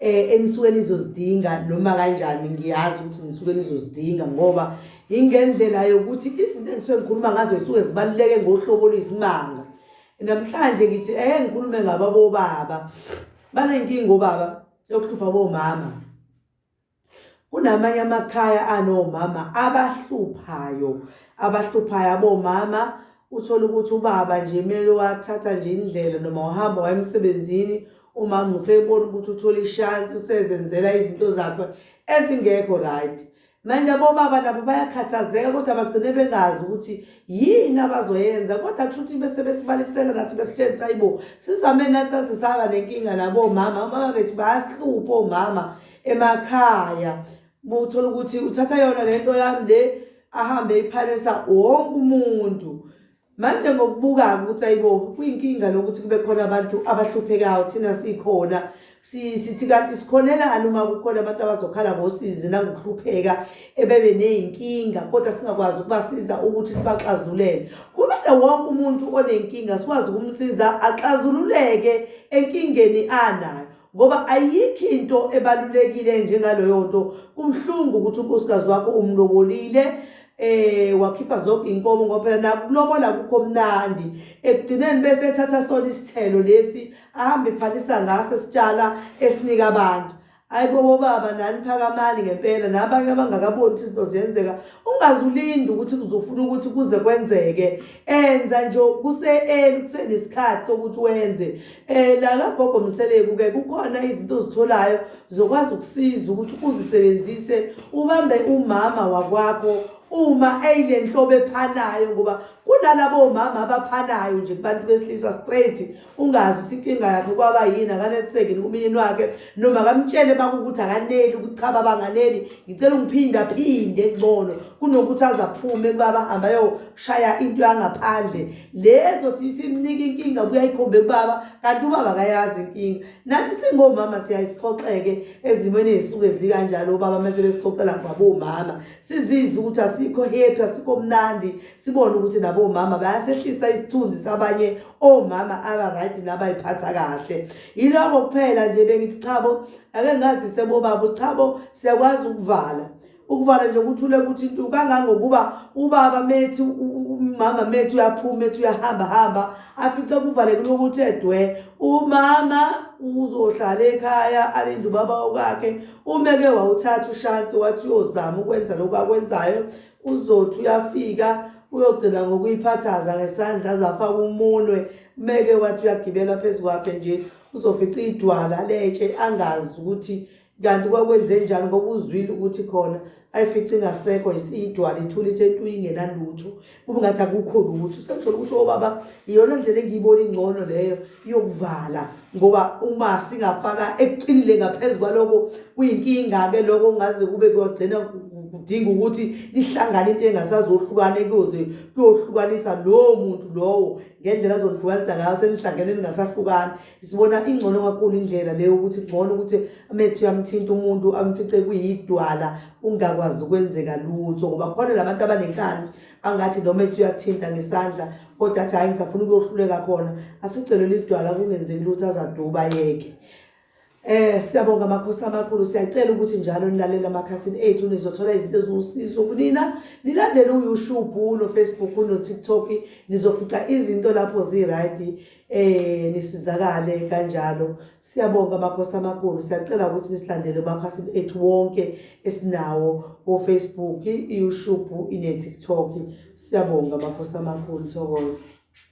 eh enisuke nizozidinga noma kanjani ngiyazi ukuthi nisuke nizozidinga ngoba ingendlela yokuthi izinto engisuke ngikhuluma ngazo zisuke zibaluleke ngohlobo lwesimanga namhlanje ngithi eh ngikhulume ngababo baba banenkinga obaba yokuhlupha bomama Kunamanye amakhaya anomama abahluphayo abahluphayo abomama uthole ukuthi ubaba nje kumele wathatha nje indlela noma uhamba waye emsebenzini umama usebona ukuthi uthole ishansi usezenzela izinto zakhe ezingekho right manje abobaba nabo bayakhathazeka kodwa bagcine bengazi ukuthi yini abazoyenza kodwa kusho ukuthi bese besibalisela nathi besitshenzisa ayibo sizame nathi sasisaba nenkinga nabomama omama bethu bayasihlupha omama emakhaya uthola ukuthi uthatha yona le nto yami le ahambe iphalisa wonke umuntu manje ngokubuka-ke ukuthi ayibo kuyinkinga lokuthi kube khona abantu abahluphekayo thina sikhona sithi kanti sikhonelani uma kukhona abantu abazokhala ngosizi nangokuhlupheka ebebe ney'nkinga kodwa singakwazi ukubasiza ukuthi sibaxazululele kumele wonke umuntu onenkinga sikwazi ukumsiza axazululeke enkingeni anayo ngoba ayikho into ebalulekile njengaloyo nto kumhlungu ukuthi unkosikazi wakho umlobolile eh wakhipha zonke inkomo ngoba phela nakulobola kukho mnandi ekugcineni bese ethatha sona isithelo lesi ahambe phalisa ngase sitshala esinika abantu ayibo bobaba nani phakamani ngempela nabanye abangakaboni ukuthi izinto ziyenzeka ungazulindi ukuthi kuzofuna ukuthi kuze kwenzeke enza nje kuse-eli kusenesikhathi sokuthi wenze Eh la kagogo Mseleku ke kukhona izinto ozitholayo zokwazi ukusiza ukuthi uzisebenzise ubambe umama wakwakho uma eyile nhlobo ephanayo ngoba kunalabo omama abaphanayo nje kubantu besilisa straight ungazi ukuthi inkinga yakhe kwaba yini akaneliseki nomyeni wakhe noma kamtshele baba ukuthi akaneli ukuthi cha baba anganeli ngicela ungiphinde aphinde kungcono kunokuthi azaphume kubaba hamba yoshaya into yangaphandle le ezothi isimnika inkinga kuyayikhombe kubaba kanti ubaba akayazi inkinga nathi singomama siyayisiphoxeke ezimweni ezisuke zikanjalo ubaba mase besixoxela ngabomama sizizwe ukuthi asikho happy asikho mnandi sibone ukuthi nabomama bayasehlisa isithunzi sabanye omama aba right nabayiphatha kahle Yiloko kuphela nje bengithi chabo ake ngazise bobaba uchabo siyakwazi ukuvala ukuvala nje ukuthule ukuthi into kangangokuba ubaba methi umama methi uyaphuma methi uyahamba hamba afice kuvaleke lokuthi edwe umama uzohlala ekhaya alinde ubaba wakhe umeke wawuthatha ushansi wathi uyozama ukwenza lokho akwenzayo Uzothi uyafika uyogcina ngokuyiphathaza ngesandla aze afake umunwe meke wathi uyagibela phezu kwakhe nje uzofica idwala letshe angazi ukuthi kanti kwakwenze njani ngoba uzwile ukuthi khona ayifice ingasekho idwala ithula ithe ntu ingenalutho kube ngathi akukho lutho sengisholo ukuthi obaba iyona ndlela engiyibona ingcono leyo yokuvala ngoba uma singafaka eqinile ngaphezu kwaloko kuyinkinga-ke loko kungaze kube kuyogcina kudinga ukuthi lihlangane into engasazohlukane kuyoze kuyohlukanisa lowo muntu lowo ngendlela azonihlukanisa ngayo senihlangene ningasahlukani sibona ingcono kakhulu indlela leyo ukuthi ngcono ukuthi amethu uyamthinta umuntu amfice kuyidwala ungakwazi ukwenzeka lutho ngoba khona la bantu abanenkani angathi noma ethi uyathinta ngesandla kodwa athi hayi ngisafuna ukuyohluleka khona afice leli dwala kungenzeki lutho azaduba yeke Eh siyabonga makhosi amakhulu siyacela ukuthi njalo nilalele amakhasini ethu nizothola izinto eziwusizo kunina nilandele uYouTube no Facebook no TikTok nizofica izinto lapho zi right eh nisizakale kanjalo siyabonga makhosi amakhulu siyacela ukuthi nisilandele umakhasi ethu wonke esinawo ku Facebook, iYouTube, ineTikTok siyabonga makhosi amakhulu thokoza